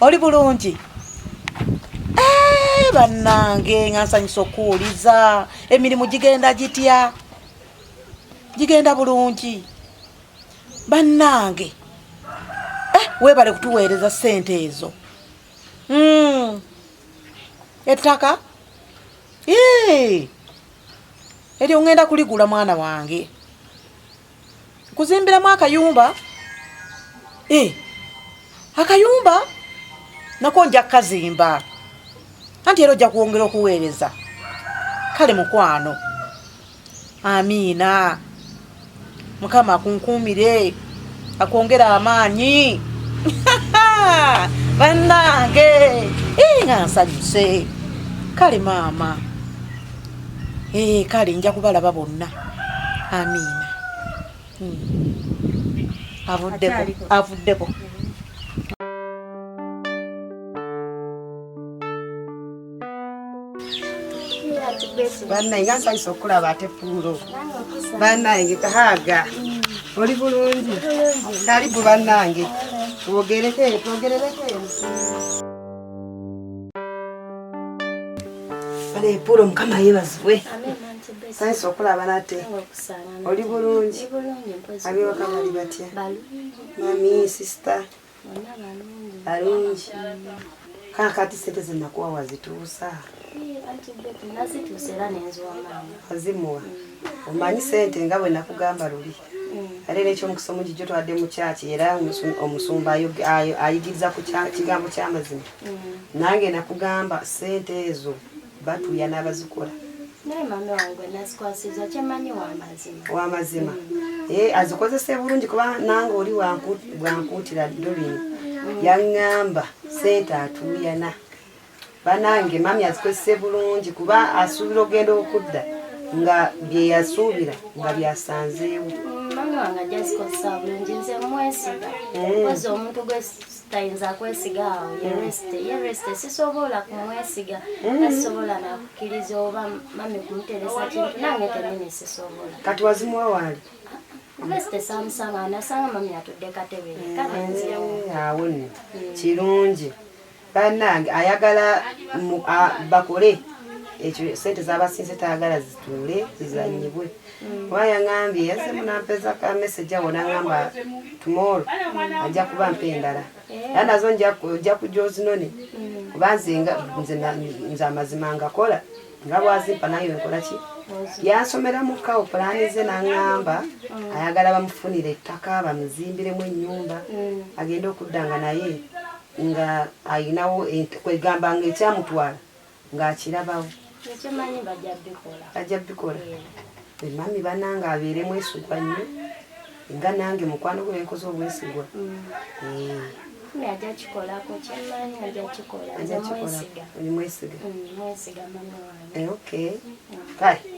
oli bulungi eh, bannange nga nsanyusa okuwuliza emirimu gigenda gitya gigenda bulungi bannange eh, webale kutuweereza sente ezo hmm. ettaka eryo ngenda kuligula mwana wange kuzimbiramu akayumba eh, akayumba nako nja kukazimba anti era ojja kwongera okuweereza kale mukwano amiina mukama akunkuumire akwongera amaanyi bannange nga nsanyuse kale maama ee eh, kale nja kubalaba bonna amiina hmm. avuddeko avuddeko banaye ansayisa okulaba ate puulo banaye kahaga oli bulungi kalibu banange twogereko eno twogerereko eno banaye puulo mukama yebazibwe Thanks okulaba nate. Oli bulungi. Abiwaka bali batya? Mami sister. Balungi. Kana kati sente zinakuwa wazituusa. Azimuwa. Omanyi sente nga bwe nakugamba luli. Mm. Ate n'ekyomukisa omungi gyo twadde mu kyaki era omusumba ayigiriza ku kigambo ky'amazima. Mm. Nange nakugamba sente ezo. batuya n'abazikola naye mami wange gwe nasikwasiza kyemanyi wamazima wamazima mm. eh, azikozese bulungi kuba nange oli bwankuutira dolin mm. yaŋŋamba sente atuuyana banange mami azikozese bulungi kuba asuubira ogenda okudda nga byeyasuubira nga byasanzeewo mm, mami wange ajja zikozesa bulungi nze mwesiga eh. koza omuntu gwe tayinza kwesiga awo yeresite yeresite sisobola kumwesiga nasisobola mm-hmm. nakukkiriza oba mami kumuteresa kintu nange kenyini sisobola kati wazimuwa waali resite samusanga nasanga mami atudde katebere mm-hmm. kalenzewo awo nno mm. kirungi banange ayagala bakole ekyo sente zabasinze tayagala zituule zizanyibwe mm. oba yangambye yazze munampeza ka message awo nangamba tomorrow ajja kuba mpa endala era nazo ojja kujja ozinone kuba nze nze amazima ngakola nga bwazimpa naye nkola ki yansomera mu kawo pulaani ze nangamba ayagala bamufunire ettaka bamuzimbiremu ennyumba agende okuddanga naye nga ayinawo kwegamba nga ekyamutwala ng'akirabawo ekyemanyi bajja bikola bajja bikola emami banange abeere mwesigwa nnyo nga nange mukwano gwe benkoze obwesigwa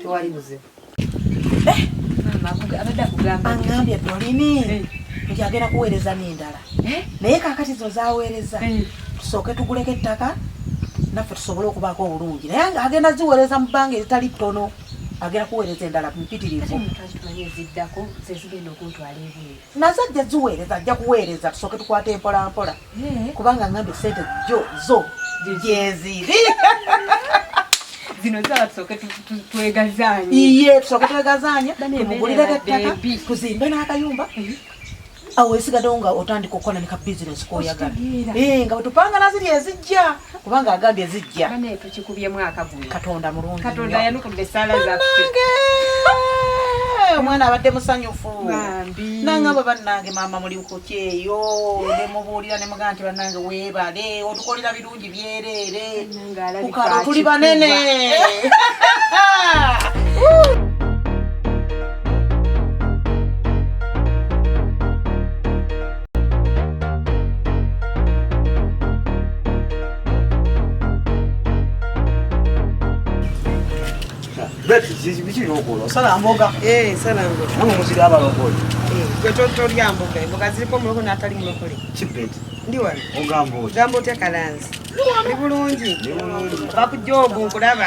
tewali buzibu aŋambye dolini eh. nti agenda kuweereza n'endala eh? naye kakati zo zaweereza eh. tusooke tuguleko ettaka naffe tusobole okubaako obulungi naye agenda ziweereza mu bbanga eritali ttono agenda kuweereza endala mpitirivu nazajja ziweereza ajja kuweereza tusooke tukwata empolampola Eh, kubanga ngambe sente jo zo jeziri zino zala tusoke twegazanye iye tusoke twegazanye mugulira ettaka tuzimbe n'akayumba eh. awo esigadde nga otandika okukola ne ka bizinesi koyagala eh, nga wetupanga naziri ezijja kubanga agambye zijja ane tukikubye mwaka guno katonda mulungi katonda yanukudde sala za nange omwana abadde musanyufu nanga bwe bannange maama muli kukyeyo nemubuulira ne mugaa nti bannange weebale otukolera birungi byereere kukalo tuli banene Sala mboga. Eh, sala mboga. Mungu muzidi hapa lokole. Eh, kwa toto lya mboga. Mboga zilipo mloko na atali mlokole. Chipet. Ndi wali. Ogambo. Gambo te kalanzi. Ni bulungi. Ni bulungi. Bakujobu kulaba.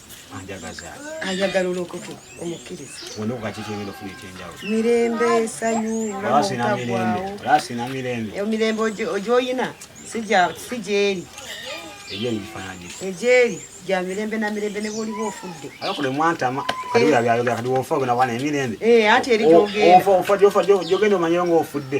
ayagala olokoke omukkiriza mirembe esanyu namutagwawo mirembe ogyoyina si gyeri egyeri gya mirembe na mirembe ne bwoliba ofudde anti eri gyogenda omanyeyo ngaofudde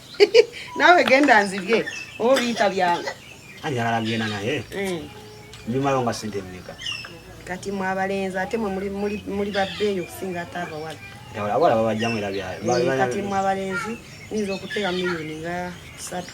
nawe genda nzibye oba biyita byangu ayagala genda naye eh. nyumayo nga sente emeka kati mwabalenzi ate mwe muli babbeeyo okusinga ate abawala abawala babajjamu era byakati eh, mwabalenzi nyinza okuteeka miliyoni nga satu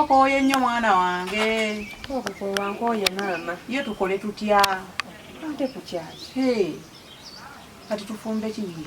Okoye nnyo mwana wange. Okukowa nkoye maama. Ye tukole tutya? Ate kukyaki? Hey. Kati tufumbe kiyi.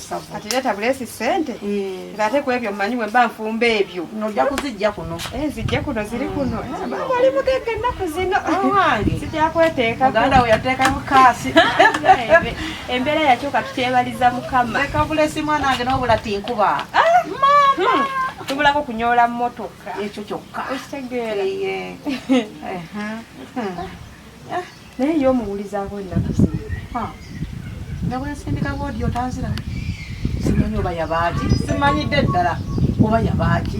kati leeta buleesi ssente eh. ng'ate ku ebyo mmanyi bwe mba nfumba ebyo nojja kuzijja kuno eh, zijje kuno ziri kuno eh, ali mugegga ennaku zino owange zijja kweteeka muganda we yateeka mukaasi embeera yakyuka tukyebaliza mukama leka buleesi mwana wange n'obula tinkuba ah, mama hmm. tubulako kunyoola mmotoka ekyo kyokka okitegeera naye ye omuwulizaako ennaku zino nga bwensindika woodi otanzira simanyi oba yabaaki simanyidde ddala oba yabaaki